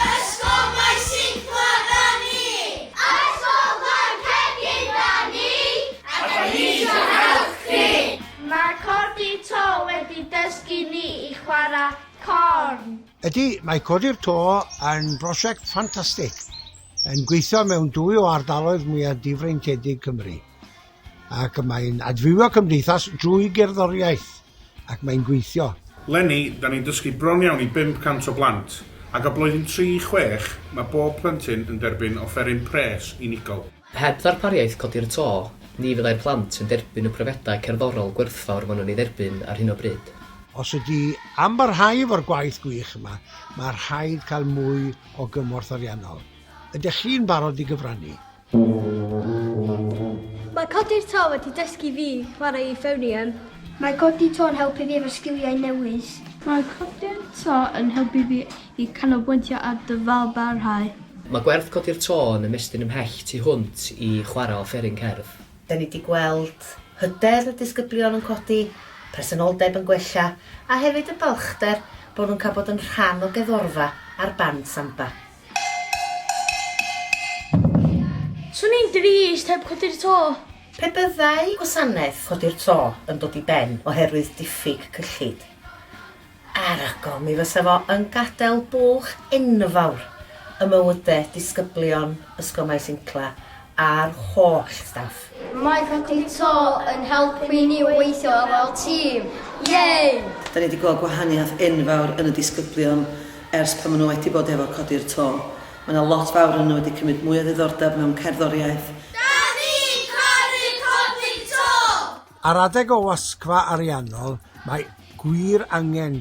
Ysgol Maes Singla 'da ni! Ysgol Llancergyn 'da ni! A 'da ni isio help chi! Mae codi to wedi dysgu ni i chwarae corn. Ydy, mae codi'r to yn brosiect ffantastig, yn gweithio mewn dwy o ardaloedd mwyaf difreintiedig Cymru, ac mae'n adfywio cymdeithas drwy gerddoriaeth. ac mae'n gweithio. Leni, da ni'n dysgu bron iawn i 500 o blant, ac o blwyddyn tri i chwech, mae bob plentyn yn derbyn offeryn pres unigol. Heb ddarpariaeth codi'r to, ni fyddai'r plant yn derbyn y profiadau cerddorol gwerthfawr maen nhw'n ei dderbyn ar hyn o bryd. Os ydy am barhau efo'r gwaith gwych yma, mae rhaid cael mwy o gymorth ariannol. Ydych chi'n barod i gyfrannu? Mae codi'r to wedi dysgu fi chwarae euphonium. Mae codi to yn helpu fi efo sgiliau newydd. Mae codi'r to yn helpu fi i canolbwyntio ar dyfalbarhau. Mae gwerth codi'r to yn ymestyn ymhell tu hwnt i chwarae offeryn cerdd. Da ni di gweld hyder y disgyblion yn codi, presenoldeb yn gwella a hefyd y balchder bod nhw'n cael bod yn rhan o geddorfa ar band samba. Swn i'n drist heb Codi'r To. Pe byddai gwasanaeth Codi'r To yn dod i ben oherwydd diffyg cyllid, arogl, mi fysa fo yn gadael bwlch enfawr ym mywydau disgyblion Ysgol Maes Incla a'r holl staff. Mae Rhaglen To yn helpu ni weithio fel tîm. Yay! Da ni wedi gweld gwahaniaeth enfawr yn y disgyblion ers pan maen nhw wedi bod efo Codi'r To. Mae yna lot fawr ohonyn nhw wedi cymryd mwy o ddiddordeb mewn cerddoriaeth. Da ni'n caru Codi'r To! Ar adeg ollasgfa ariannol mae gwir angen